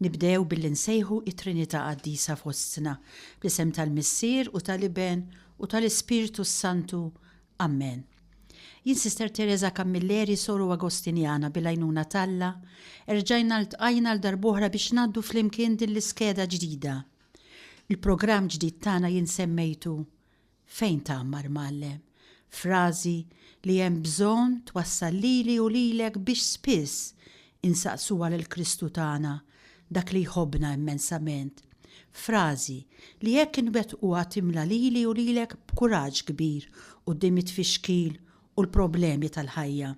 Nibdew billi nsejħu it-Trinità Qaddisa fostna, bl-isem tal-Missier u tal-Iben u tal-Ispirtu s-Santu. Ammen. Jien Sister Teresa Camilleri, Soru Agostinjana, bil-għajnuna t'Alla, erġajna ltqajna għal darb'oħra biex ngħaddu flimkien din l-iskeda ġdida. Il-programm ġdid tagħna jien semmejtu Fejn tgħammar mgħallem? Frażi li hemm bżonn twassal lili u lilek biex spiss insaqsuha lil Kristu tagħna, dak li jħobbna immensament. Frażi li jekk inwettquha timla lili u lilek b'kuraġġ kbir quddiem it-tfixkil u l-problemi tal-ħajja.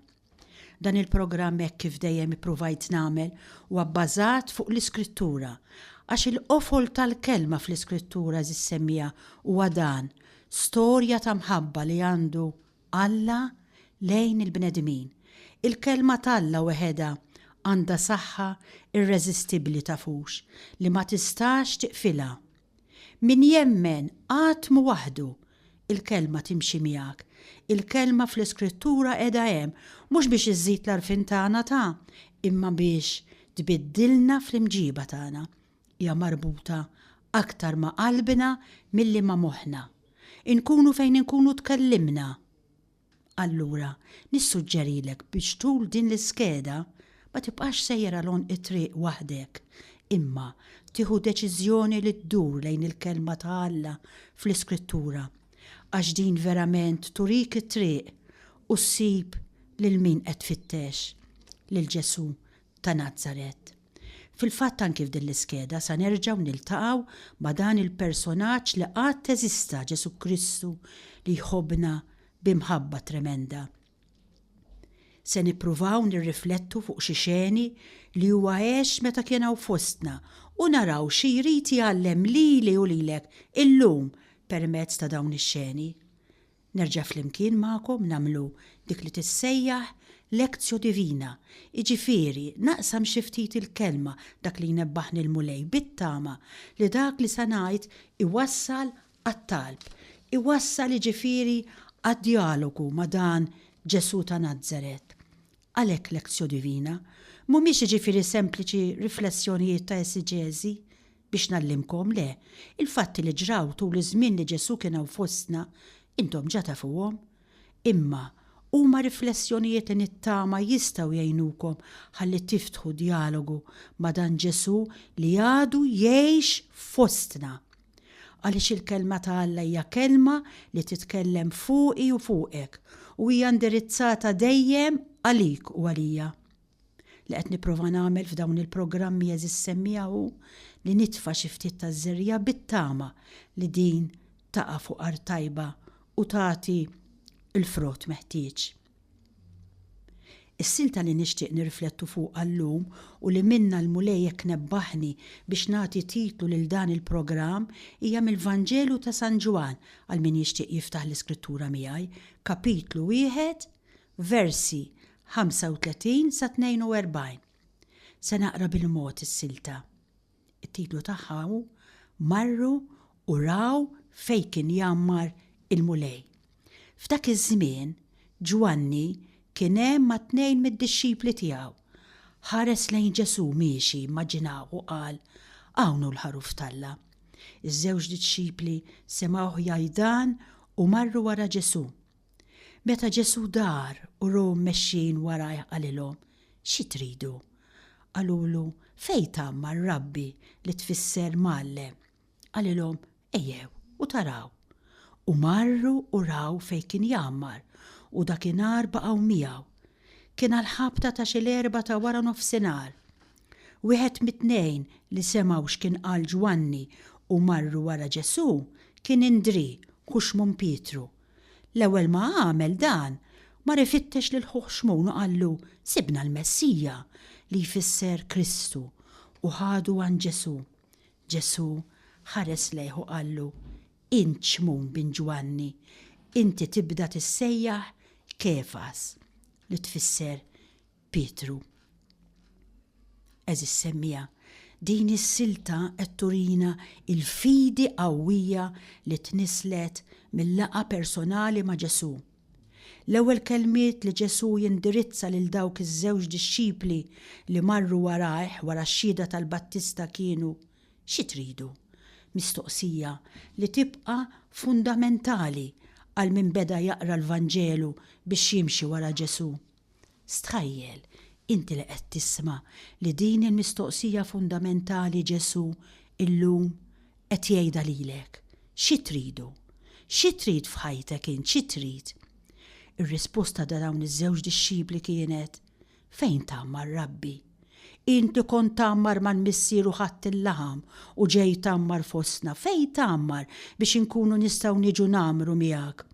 Dan il-programm hekk kif dejjem ippruvajt nagħmel huwa bbażat fuq l-Iskrittura, għax il-qofol tal-kelma fl-Iskrittura Għeżież Semmiegħa huwa dan, storja ta' mħabba li għandu Alla lejn il-bnedmin. Il-Kelma t'Alla weħedha għandha saħħa irreżistibbli tafux li ma tistax tiqfilha. Min jemmen għatmu waħdu, il-Kelma timxi miegħek. Il-Kelma fl-Iskrittura qiegħda hemm, mhux biex iżżid l-għarfien tagħna ta', imma biex tbiddilna fl-imġiba tagħna. Hija marbuta aktar ma' qalbna milli ma' moħħna. Inkunu fejn inkunu tkellimna. Allura, nissuġġerilek biex tul din l-iskeda ma tibqax sejjer għal għonq it-triq waħdek, imma tieħu deċiżjoni li ddur lejn il-Kelma ta' Alla fl-Iskrittura, għax din verament turik it-triq u ssib lil min qed tfittex, lil Ġesù ta' Nazaret. Fil-fatt anki f'din l-iskeda sa nerġgħu niltaqgħu ma' dan il-personaġġ li qatt eżista Ġesù Kristu li jħobbna bi mħabba tremenda. Se nippruvaw nirriflettu fuq xi xeni li huwa għex meta kien hawn fostna u naraw xi jrid jgħallem lili u lilek illum permezz ta' dawn ix-xeni. nerġa' flimkien magħkom nagħmlu dik li tissejjaħ lectio divina, jiġifieri naqsam xi ftit il-Kelma, dak li jnebbaħni l-Mulej, bit-tama li dak li se ngħid iwassal għat-talb, iwassal jiġifieri għad-djalogu ma' dan Ġesù ta' Nazaret. Għalhekk lectio divina mhumiex jiġifieri sempliċi riflessjonijiet ta' esiġeżi biex ngħallimkom, le, il-fatti li ġraw tul iż-żmien li Ġesù kien hawn fostna intom ġa tafuhom. Imma huma riflessjonijiet li nittama jistgħu jgħinukom ħalli tiftħu djalogu ma' dan Ġesù li għadu jgħix fostna. Għaliex il-Kelma ta' Alla hija Kelma li titkellem fuqi u fuqek, u hija indirizzata dejjem għalik u għalija. Li qed nipprova nagħmel f'dawn il-programmi għeżież semmiegħa hu li nitfa' xi ftit taż-żerriegħa bit-tama li din taqa' fuq art tajba u tagħti l-frott meħtieġ. Is-silta li nixtieq nirriflettu fuqha llum u li minnha l-Mulej hekk nebbaħni biex nagħti titlu lil dan il-programm hija mill-Vanġelu ta' San Ġwann, għal min jixtieq jiftaħ l-Iskrittura miegħi, Kapitlu wieħed, versi 35 sa 42. Se naqra bil-mod is-silta. It-titlu tagħha hu Marru u Raw Fejn Kien Jgħammar il-Mulej. F'dak iż-żmien, Ġwanni kien hemm ma' tnejn mid-dixxipli tiegħu. Ħares lejn Ġesù miexi immaġinaw u qal, Hawn hu l-Ħaruf t'Alla. Iż-żewġ dixxipli semgħuh jgħid dan u marru wara Ġesù. Meta Ġesù dar u rahom mexjin warajh qalilhom, Xi tridu? Qalulu, Fejn tgħammar Rabbi, li tfisser Mgħallem? Qalilhom, Ejjew u taraw. U marru u raw fejn kien jgħammar, u dakinhar baqgħu miegħu. Kien għall-ħabta ta' xi l-erbgħa ta' wara nofsinhar. Wieħed mit-tnejn li semgħu x'kien qal Ġwanni u marru wara Ġesù kien Indrì, ħu Xmun Pietru. L-ewwel ma għamel dan, mar ifittex lil ħuh Xmun u qallu, Sibna l-Messija, li jfisser Kristu, u ħadu għand Ġesù. Ġesù ħares lejh u qallu, Int Xmun bin Ġwanni, inti tibda tissejjaħ Kefas, li tfisser Pietru. Għeżież semmiegħa, din is-silta qed turina l-fidi qawwija li tnisslet mil-laqgħa personali ma' Ġesù. L-ewwel kelmiet li Ġesù jindirizza lil dawk iż-żewġ dixxipli li marru warajh wara x-xhieda tal-battista kienu, Xi tridu? Mistoqsija li tibqa' fundamentali għal min beda jaqra l-Vanġelu biex jimxi wara Ġesù. Stħajjel, inti li qed tisma' li din il-mistoqsija fundamentali Ġesù illum qed jgħidha lilek, Xi tridu? Xi trid f'ħajtek int, xi trid? Ir-risposta ta' dawn iż-żewġ dixxipli kienet, Fejn tgħammar, Rabbi? Int li kont tgħammar mal-Missier u ħadt il-laħam u ġej tgħammar fostna, fejn tgħammar biex inkunu nistgħu niġu ngħammru miegħek?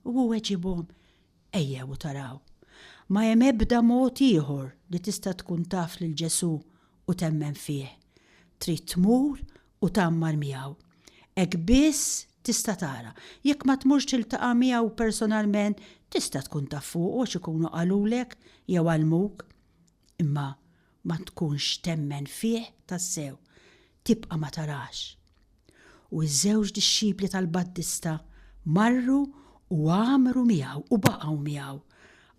U hu weġibhom, Ejjew u taraw. Ma hemm ebda mod ieħor li tista' tkun taf lil Ġesù u temmen fih. Trid tmur u tgħammar miegħu. Hekk biss tista' tara. Jekk ma tmurx tiltaqa' miegħu personalment, tista' tkun taf fuqu għax ikunu qalulek jew għallmuk. Imma ma tkunx temmen fih tassew, tibqa' ma tarax. U ż-żewġ dixxipli tal-Battista marru u għammru miegħu u baqgħu miegħu,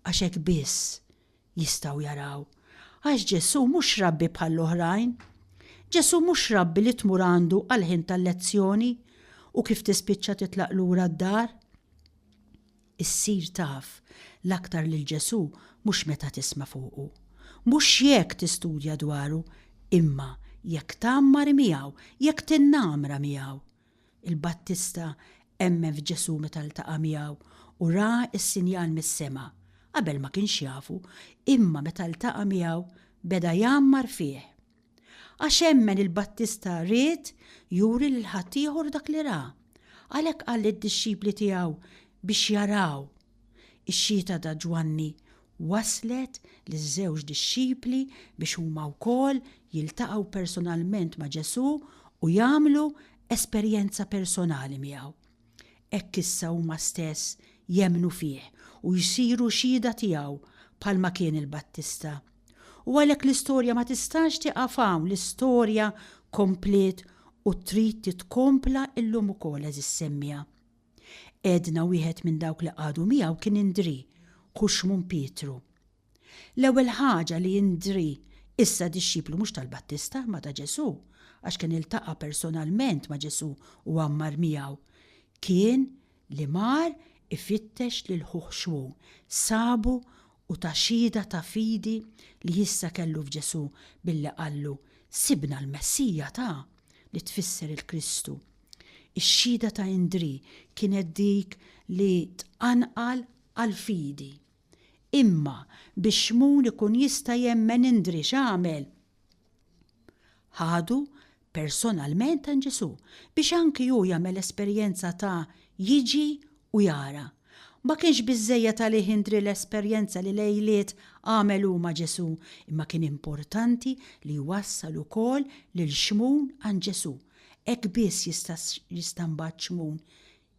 għax hekk biss jistgħu jaraw. Għax Ġesù mhux rabbi bħall-oħrajn. Ġesù mhux rabbi li tmur għandu għall-ħin tal-lezzjoni u kif tispiċċa titlaq lura d-dar. Issir taf l-aktar lil Ġesù mhux meta tisma' fuqu, mhux jekk tistudja dwaru, imma jekk tgħammar miegħu, jekk tinnamra miegħu. Il-Battista emmen f'Ġesù meta ltaqa' miegħu u ra s-sinjal mis-sema. Qabel ma kienx jafu, imma meta ltaqa' miegħu beda jgħammar fih. Għax emmen il-battista ried juri lil ħaddieħor dak li ra. Għalhekk qal lid-dixxipli tiegħu biex jaraw. Ix-xhieda ta' Ġwanni wasslet liż-żewġ dixxipli biex huma wkoll jiltaqgħu personalment ma' Ġesù u jagħmlu esperjenza personali miegħu. Hekk issa huma stess jemmnu fih u jsiru xhieda tiegħu bħalma kien il-Battista. U għalhekk l-istorja ma tistax tieqaf hawn, l-istorja kompliet u trid titkompla llum ukoll, għeżież semmiegħa. Għedna wieħed minn dawk li qagħdu miegħu kien Indrì, ħu Xmun Pietru. L-ewwel ħaġa li Indrì, issa dixxiplu mhux tal-Battista imma ta' Ġesù, għax kien iltaqa' personalment ma' Ġesù u għammar miegħu, kien li mar ifittex lil ħuh Xmun, sabu u ta xhieda ta' fidi li issa kellu f'Ġesù billi qallu, Sibna l-Messija ta', li tfisser il-Kristu. Ix-xhieda ta' Indrì kienet dik li tqanqal għall-fidi. Imma biex Xmun ikun jista' jemmen indri x'għamel? Ħadu personalment għand Ġesù biex anki hu jagħmel esperjenza ta' jiġi u jara. Ma kienx biżżejjed għalih indri l-esperjenza li lejliet għamel hu ma' Ġesù, imma kien importanti li jwassal ukoll lil Xmun għand Ġesù. Hekk biss jista' mbagħad Xmun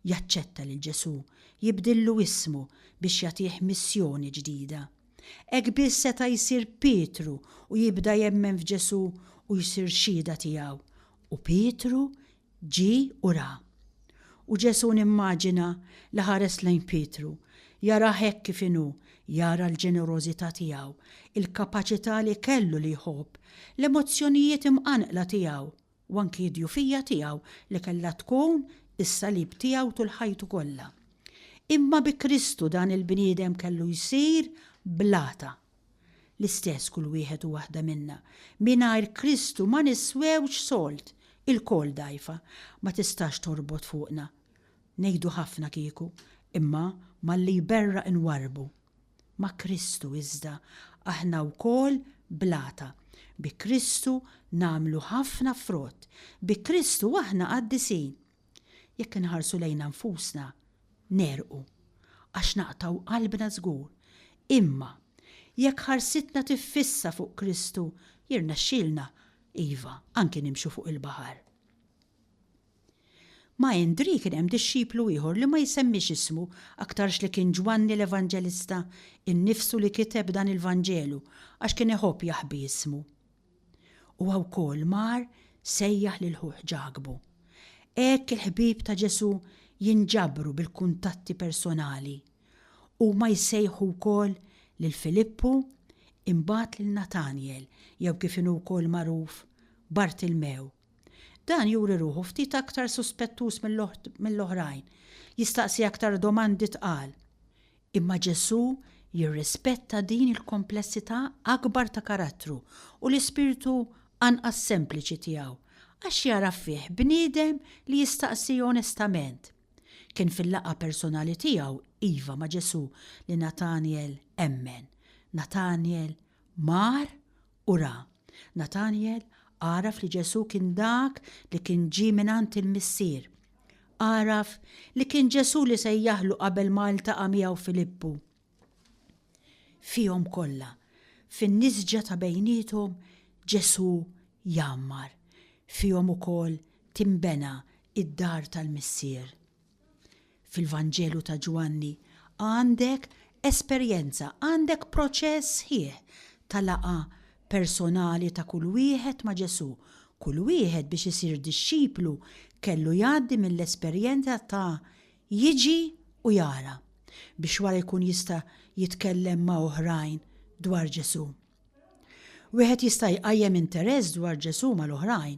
Jaċċetta lil Ġesù jibdillu ismu biex jagħtih missjoni ġdida. Hekk biss seta' jsir Pietru u jibda jemmen f'Ġesù u jsir xhieda tiegħu. U Pietru ġie u ra. U Ġesù nimmaġina li ħares lejn Pietru, jarah hekk kif inhu, jara l-ġenerożità tiegħu, il-kapaċità li kellu li jħobb, l-emozzjonijiet imqanqla tiegħu u anki d-djufija tiegħu li kellha tkun is-salib tiegħu tul ħajtu kollha. Imma bi Kristu dan il-bniedem kellu jsir blata. L-istess kull wieħed u waħda minna. Mingħajr Kristu ma niswewx solt, ilkoll dgħajfa, ma tistax torbot fuqna. Ngħidu ħafna kieku, imma malli jberraq inwarrbu. Ma' Kristu iżda aħna wkoll blata, bi Kristu nagħmlu ħafna frott, bi Kristu aħna qaddisin. Jekk inħarsu lejna nfusna, negħrqu, għax naqtgħu qalbna żgur. Imma, jekk ħarsitna tiffissa fuq Kristu, jirnexxilna, iva, anki nimxu fuq il-baħar. Ma' Indrì kien hemm dixxiplu ieħor li ma jsemmix ismu aktarx li kien Ġwanni l-Evanġelista innifsu li kiteb dan il-Vanġelu għax kien iħobb jaħbi ismu. Huwa wkoll mar sejjaħ lil ħuh Ġakbu. Hekk il-ħbieb ta' Ġesù jinġabru bil-kuntatti personali. Huma jsejħu wkoll lil Filippu, imbagħad lil Natanjel jew kif inhu wkoll magħruf Bartilmew. Dan juri ruħu ftit aktar suspettuż mill-oħrajn, jistaqsi aktar domandi tqal. Imma Ġesù jirrispetta din il-komplessità akbar ta' karattru u l-ispirtu anqas sempliċi tiegħu, għax jara fih bniedem li jistaqsi onestament. Kien fil-laqgħa personali tiegħu, iva, ma' Ġesù li Natanjel emmen. Natanjel mar u ra. Natanjel għaraf li Ġesù kien dak li kien ġie mingħand il-Missier. Għaraf li kien Ġesù li sejjaħlu qabel ma ltaqa' miegħu Filippu. Fihom kollha, fin-nisġa ta' bejniethom, Ġesù jgħammar. Fihom ukoll tinbena d-dar tal-Missier. Fil-Vanġelu ta' Ġwanni għandek esperjenza, għandek proċess sħiħ ta' laqgħa personali ta' kull wieħed ma' Ġesù. Kull wieħed biex isir dixxiplu kellu jgħaddi mill-esperjenza ta' jiġi u jara, biex wara jkun jista' jitkellem ma' oħrajn dwar Ġesù. Wieħed jista' jqajjem interess dwar Ġesù mal-oħrajn,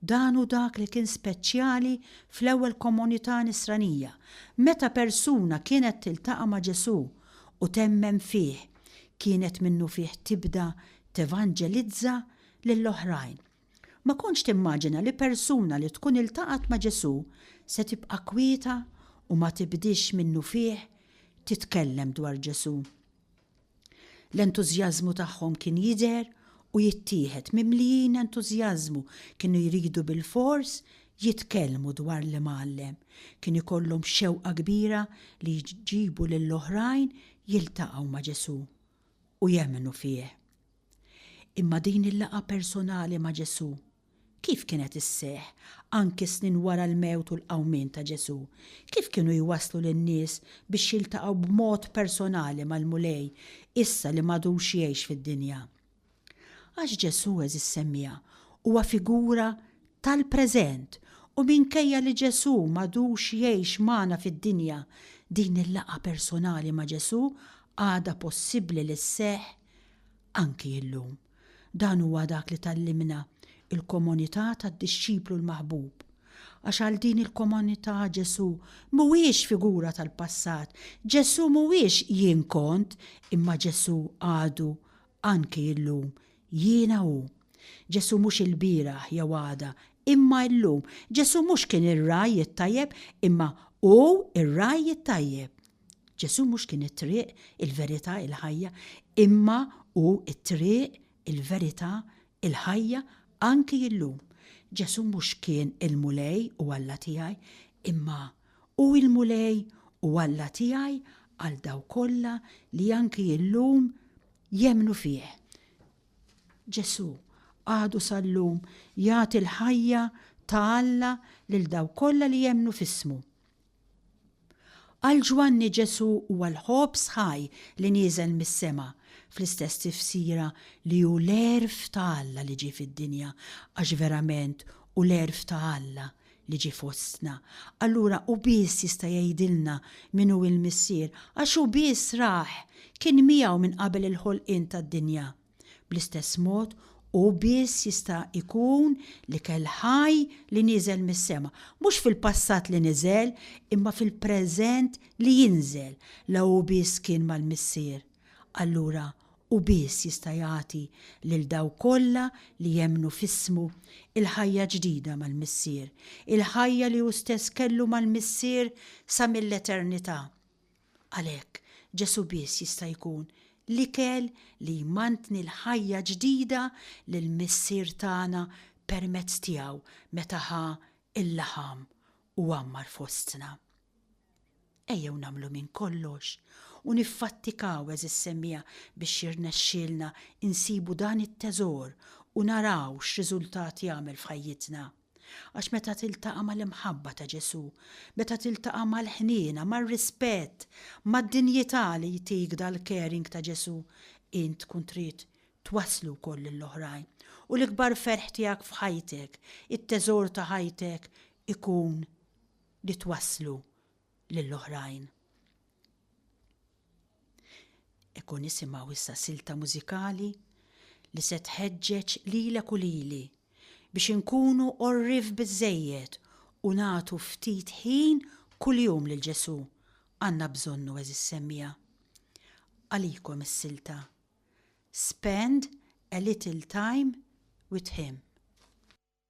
Dan hu dak li kien speċjali fl-ewwel komunità Nisranija, meta persuna kienet tiltaqa' ma' Ġesù u temmen fih, kienet minnufih tibda tevanġelizza lill-oħrajn. Ma kontx timmaġina li persuna li tkun iltaqgħet ma' Ġesù se tibqa' kwieta u ma tibdiex minnufih titkellem dwar Ġesù. L-entużjażmu tagħhom kien jidher u jittieħed, mimlijin entużjażmu, kienu jridu bilfors jitkellmu dwar l-Imgħallem. Kien ikollhom xewqa kbira li jġibu lill-oħrajn jiltaqgħu ma' Ġesù u jemmnu fih. Imma din il-laqgħa personali ma' Ġesù Kif kienet isseħħ, anki snin wara l-mewt u l-qawmien ta' Ġesù? Kif kienu jwasslu lin-nies biex jiltaqgħu b'mod personali mal-Mulej issa li m'għadux jgħix fid-dinja? Għax Ġesù, għeżież semmiegħa, huwa figura tal-preżent u minkejja li Ġesù m'għadux jgħix magħna fid-dinja, din il-laqgħa personali ma' Ġesù għadha possibbli li sseħħ anki llum. Dan huwa dak li tgħallimna l-komunità tad-dixxiplu l-maħbub. Għax għal din il-komunità Ġesù mhuwiex figura tal-passat, Ġesù mhuwiex jien kont, imma Ġesù għadu, anki illum, jiena hu. Ġesù mhux ilbieraħ jew għada, imma illum. Ġesù mhux kien ir-ragħaj it-tajjeb, imma hu r-ragħaj it-tajjeb. Ġesù mhux kien it-triq, il-verità, il-ħajja, imma hu t-triq, il-verità, il-ħajja anki illum. Ġesù mhux kien il-Mulej u Alla tiegħi, imma hu l-Mulej u Alla tiegħi għal dawk kollha li anki illum jemmnu fih. Ġesù għadu sal-lum jagħti l-ħajja ta' Alla lil dawk kollha li jemmnu f'ismu. Għal Ġwanni Ġesù huwa l-ħobż ħaj li nieżel mis-sema, fl-istess tifsira li hu l-għerf ta' Alla li ġie fid-dinja, għax verament hu l-għerf ta' Alla li ġie fostna. Allura hu biss jista' jgħidilna min hu l-Missier, għax hu biss rah, kien miegħu minn qabel il-ħolqien tad-dinja. Bl-istess mod, hu biss jista' jkun l-ikel ħaj li nieżel mis-sema, mhux fil-passat li niżel, imma fil-preżent li jinżel, la hu biss kien mal-Missier. Allura hu biss jista' jagħti lil dawk kollha li jemmnu f'ismu l-ħajja ġdida mal-Missier, il-ħajja li hu stess kellu mal-Missier sa mill-eternità. Għalhekk, Ġesù biss jista' jkun l-ikel li jmantni l-ħajja ġdida li l-Missier tana permezz tiegħu meta ħa l-laħam u għammar fostna. Ejjew nagħmlu minn kollox u niffattikaw, għeżież semmiegħa, biex jirnexxielna nsibu dan it-teżor u naraw x'riżultat jagħmel f'ħajjitna. Għax meta tiltaqa' mal-imħabba ta' Ġesù, meta tiltaqa' mal-ħniena, mar-rispett, mad-dinjità li jtik dal-caring ta' Ġesù, int tkun trid twasslu wkoll lill-oħrajn. U l-ikbar ferħ tiegħek f'ħajtek, it-teżor ta' ħajtek ikun li twasslu lil oħrajn. Eku nisimgħu issa silta mużikali li se tħeġġeġ lilek u lili biex inkunu qorrif biżżejjed u nagħtu ftit ħin kuljum lil Ġesù. Għandna bżonnu għeżiż semmiegħa. Għalikom is-silta Spend a little time with him.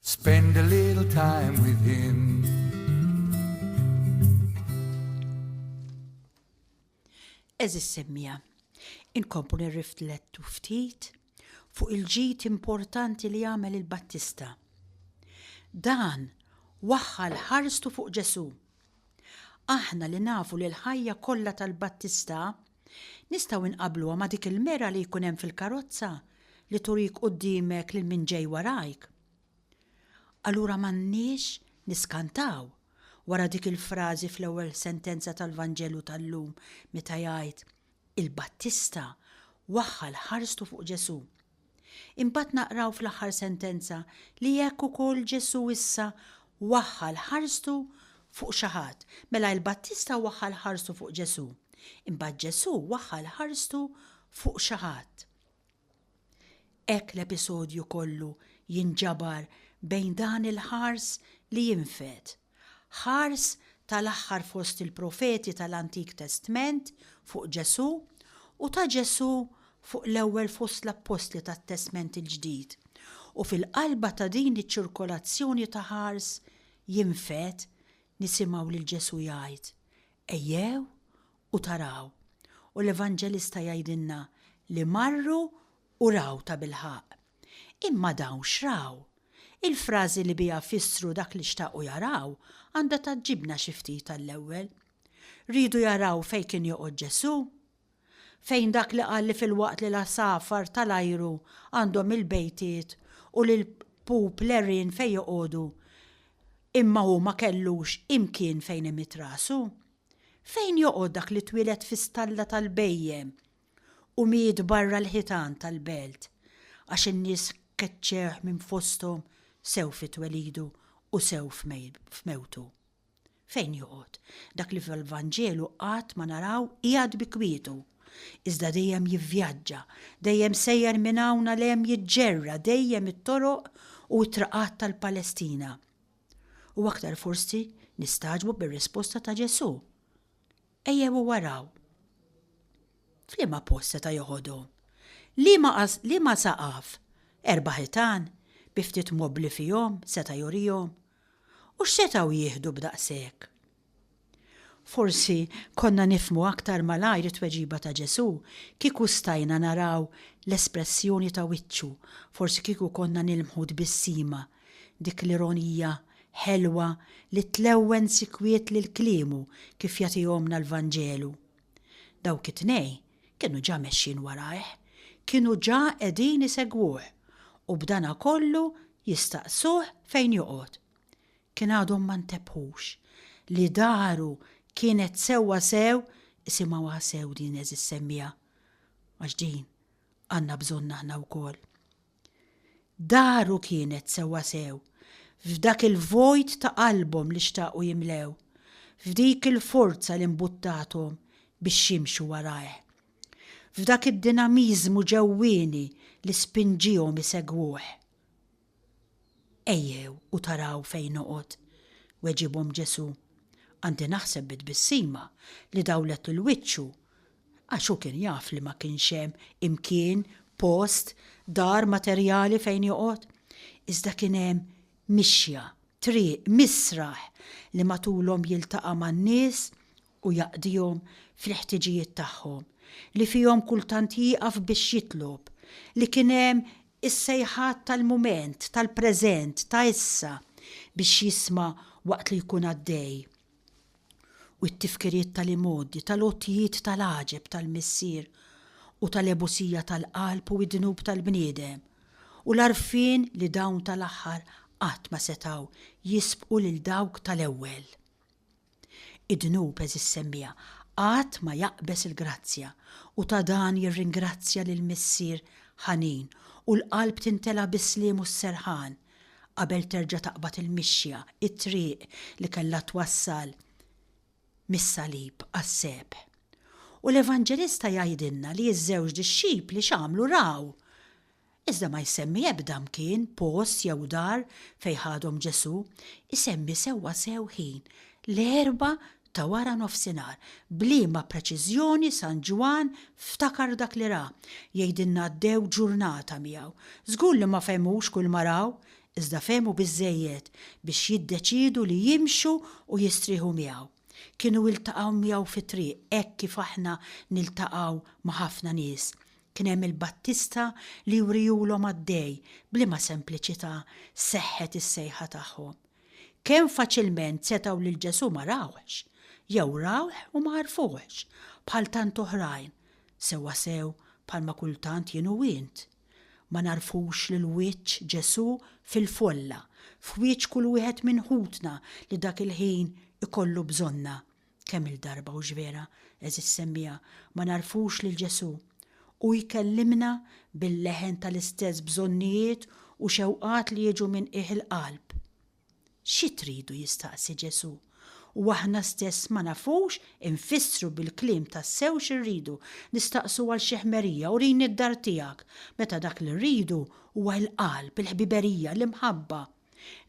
Spend a little time with him. Eżis semmija, inkomplu nirriflettu ftit fuq il-ġid importanti li għamel il-Battista. Dan waħħal ħarstu fuq Ġesu. Aħna li nafu li l-ħajja kollha tal-Battista Nistgħu nqabbluha ma' dik il-mera li jkun hemm fil-karozza li turik quddiemek lil min ġej warajk? Allura m'għandniex niskantaw wara dik il-frażi fl-ewwel sentenza tal-Vanġelu tal-lum meta jgħid, Il-Battista waħħal ħarstu fuq Ġesù. Imbagħad naqraw fl-aħħar sentenza li hekk ukoll Ġesù issa waħħal ħarstu fuq xi ħadd. Mela il-Battista waħħal ħarstu fuq Ġesù. Imbagħad Ġesù waħħal ħarstu fuq xi ħadd. Hekk l-episodju kollu jinġabar bejn dan il-ħars li jinfed. Ħars tal-aħħar fost il-profeti tal-Antik Testment fuq Ġesù u ta' Ġesù fuq l-ewwel fost l-appostli tat-Testment il-Ġdid, u fil-qalba ta' din iċ-ċirkolazzjoni ta' ħars jinfed nisimgħu lil Ġesù jgħid, Ejjew u taraw, u l-Evanġelista jgħidilna li marru u raw tabilħaqq. Imma dawn x'raw? Il-frażi li biha fissru dak li xtaqu jaraw għandha tgħaġġibna xi ftit għall-ewwel. Riedu jaraw fejn kien joqgħod Ġesù? Fejn dak li qal li filwaqt li l-għasafar ta' l-ajru għandhom il-bejtiet u li l-pup l-għerien fejn joqogħdu imma hu ma kellux imkien fejn imidd rasu? Fejn joqgħod dak li twieled fi stalla tal-bhejjem u miet barra l-ħitan tal-belt, għax in-nies keċċewh minn fosthom sew fi twelidu u sew f'mewtu. Fejn joqgħod? Dak li fil-Vanġelu qatt ma naraw qiegħed bi kwietu, iżda dejjem jivvjaġġa, dejjem sejjer minn hawn għal hemm jiġġerra dejjem it-toroq u t-traqat tal-Palestina. U aktar forsi nistagħġbu bir-risposta ta' Ġesù. Ejjew araw. F'liema post seta' joħodhom? Liema saqaf? Erba' ħitan, bi ftit mobbli fihom, seta' jurihom? U x'setgħu jieħdu b'daqshekk? Forsi konna nifhmu aktar malajr it-tweġiba ta' Ġesù kieku stajna naraw l-espressjoni ta' wiċċu, forsi kieku konna nilmħu tbissima Dik l-ironija ħelwa li tlewwen sikwit lil kliemu kif jagħtihomlna l-Vanġelu. Dawk it-tnejn kienu ġa mexjin warajh, kienu ġa qegħdin isegwuh, u b'dana kollu jistaqsuh fejn joqgħod. Kien għadhom ma ntebħux li daru kienet sewwa sew isimgħuha sew din eżis semmiegħa, għax din għandna bżonnha aħna wkoll. Daru kienet sewwasew, f'dak il-vojt ta' qalbhom li xtaqu jimlew, f'dik il-forza li mbuttathom biex jimxu warajh, f'dak id-dinamiżmu ġewwieni li spinġiehom isegwuh. Ejjew u taraw fejn noqgħod, weġibhom Ġesù. Għandi naħseb bi tbissima li dawlet 'l wiċċu Għax hu kien jaf li ma kienx hemm imkien, post, dar materjali fejn joqgħod. Iżda kien hemm mixja, triq, misraħ li matulhom jiltaqa' man-nies u jaqdihom fil-ħtiġijiet tagħhom, li fihom kultant jieqaf biex jitlob, li kien hemm is-sejħat tal-mument, tal-preżent, ta' issa, biex jisma' waqt li jkun għaddej, u t-tifkiriet tal-imgħoddi, tal-għotjiet tal-għaġeb tal-Missier u tal-għebusija tal-qalb u d-dnub tal-bniedem, u l-għarfien li dawn tal-aħħar qatt ma setgħu jisbqu lil dawk tal-ewwel. Id-dnub, għeżież semmiegħa, qatt ma jaqbeż il-grazzja, u ta' dan jirringrazzja lill-Missier ħanin, u l-qalb timtela bis-sliem u s-serħan, qabel terġa' taqbad il-mixja, it-triq li kellha twassal mis-salib għas-sebħ. U l-Evanġelista jgħidilna li ż-żewġ dixxipli x'għamlu raw. Iżda ma jsemmi ebda mkien, post jew dar fejn ħadhom Ġesù, isemmi sewwasew ħin, l-erbgħa ta' wara nofsinhar, b'liema preċiżjoni San Ġwann ftakar dak li ra, jgħidilna għaddew ġurnata miegħu. Żgur li ma fehmux kull ma raw, iżda fehmu biżżejjed biex jiddeċiedu li jimxu u jistrieħu miegħu. Kienu iltaqgħu miegħu fit-triq hekk kif aħna niltaqgħu ma' ħafna nies. Kien hemm il-Battista li jwriehulhom għaddej b'liema sempliċità seħħet is-sejħa tagħhom. Kemm faċilment setgħu lil Ġesù ma rawhx, jew rawh u ma għarfuhx, bħal tant oħrajn, sewwasew bħalma kultant jien u int. Ma nagħrfux lil wiċċ Ġesù fil-folla, f'wiċċ kull wieħed minn ħutna li dak il-ħin ikollu bżonna. Kemm-il darba hux vera, għeżież semmiegħa, ma nagħrfux lil Ġesù! Hu jkellimna bil-leħen tal-istess bżonnijiet u xewqat li jiġu minn qiegħ il-qalb. Xi tridu jistaqsi Ġesù, u aħna stess ma nafux infissru bil-kliem tassew xi rridu, nistaqsu għal xi ħmerija, urini d-dar tiegħek, meta dak li rridu huwa l-qalb, il-ħbiberija, l-imħabba.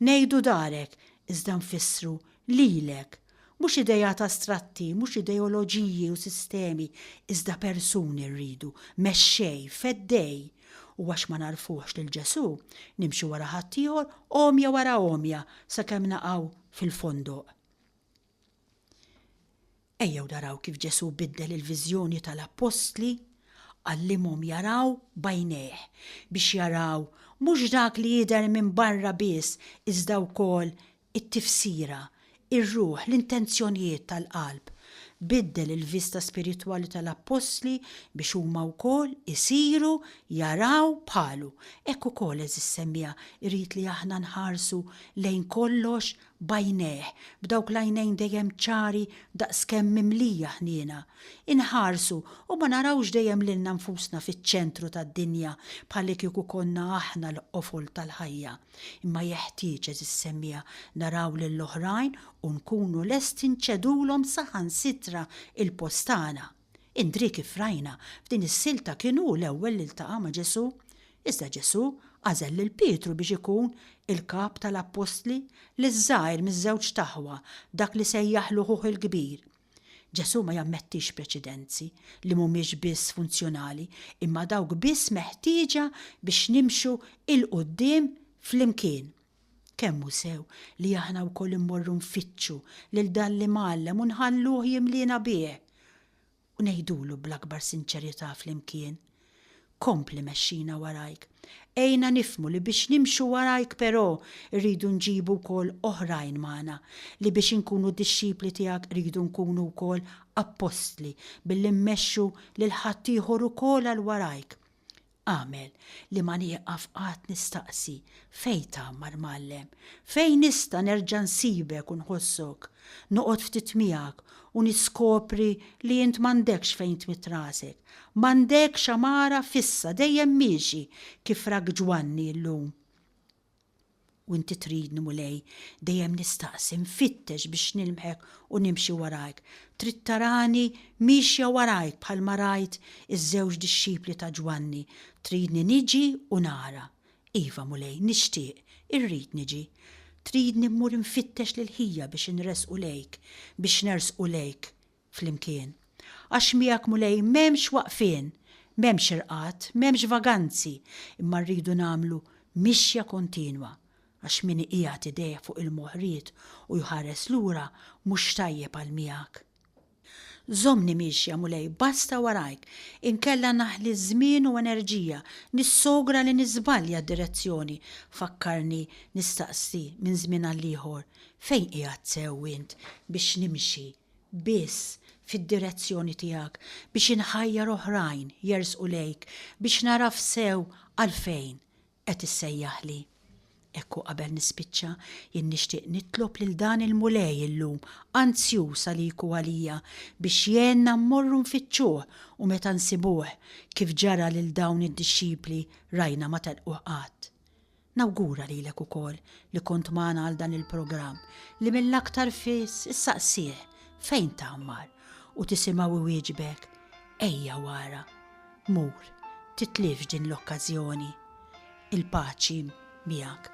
Ngħidu darek, iżda nfissru lilek. Mhux ideat astratti, mhux ideoloġiji u sistemi, iżda persuni rridu, mexxej, feddej. U għax ma nagħrfuhx lil Ġesù, nimxu wara ħaddieħor għomja wara għomja sakemm naqgħu fil-fondoq. Ejjew naraw kif Ġesù biddel il-viżjoni tal-appostli, għallimhom jaraw b'għajnejh, biex jaraw mhux dak li jidher minn barra biss iżda wkoll it-tifsira, ir-ruħ, l-intenzjonijiet tal-qalb. Biddel il-vista spiritwali tal-appostli biex huma wkoll isiru jaraw bħalu. Hekk ukoll, għeżież semmiegħa, irid li aħna nħarsu lejn kollox b'għajnejh, b'dawk l-għajnejn dejjem ċari daqskemm mimlija ħniena, inħarsu u ma narawx dejjem lilna nfusna fiċ-ċentru tad-dinja bħalikieku konna aħna l-qofol tal-ħajja, imma jeħtieġ, għeżież semmiegħa, naraw lill-oħrajn u nkunu lesti nċedulhom saħansitra l-post tagħna. Indrì kif rajna, f'din is-silta kien hu l-ewwel li ltaqa' ma' Ġesù. Iżda Ġesù għażel lil Pietru biex ikun il-kap tal-appostli, liż-żgħir miż-żewġt aħwa, dak li sejjaħlu ħuh il-kbir. Ġesù ma jammettix preċedenzi li mhumiex biss funzjonali imma dawk biss meħtieġa biex nimxu 'l quddiem flimkien. Kemm hu sew li aħna wkoll immorru nfittxu lil dan l-Imgħallem u nħalluh jimliena bih, u ngħidulu bl-akbar sinċerità flimkien, Kompli mexxina warajk, għinna nifhmu li biex nimxu warajk però rridu nġibu wkoll oħrajn magħna, li biex inkunu dixxipli tiegħek rridu nkunu wkoll appostli billi mmexxu lil ħaddieħor ukoll għal warajk. Agħmel li ma nieqaf qatt nistaqsi fejn tgħammar Mgħallem, fejn nista' nerġa' nsibek u nħossok, noqgħod ftit miegħek u niskopri li int m'għandekx fejn tmidd rasek, m'għandekx għamara fissa dejjem miexi kif rak Ġwanni llum. U inti tridni, Mulej, dejjem nistaqsi, nfittex biex nilmħek u nimxi warajk. Trid tarani miexja warajk bħalma rajt iż-żewġ dixxipli ta' Ġwanni. Tridni niġi u nara. Iva, Mulej, nixtieq, irrid niġi. Tridni mmur infittex lill-ħija biex inressqu lejk, biex nersqu lejk. flimkien. Għax miegħek Mulej m'hemmx waqfien, m'hemmx irqad, m'hemmx vaganzi, imma rridu nagħmlu mixja kontinwa, għax min iqiegħed idejh fuq il-moħriet u jħares lura mhux tajjeb għal miegħek. Żommni miexja Mulej basta warajk, inkella naħli żmien u enerġija, nissogra li niżbalja d-direzzjoni, fakkarni nistaqsi minn żmien għal ieħor, fejn qiegħed sew int biex nimxi biss fid-direzzjoni tiegħek, biex inħajjar oħrajn jersqu lejk, biex nagħraf sew għalfejn qed issejjaħli. Hekk u qabel nispiċċa, jien nixtieq nitlob lil dan il-Mulej illum, anzjuż għalik u għalija, biex jgħinna mmorru nfittxuh u meta nsibuh, kif ġara lil dawn id-dixxipli, rajna ma telquh qatt. Nawgura lilek ukoll li kont magħna għal dan il-programm li mill-aktar fis issaqsih fejn tgħammar u tisimgħu iwieġbek ejja wara, mur, titlifx din l-okkażjoni. Il-paċi miegħek.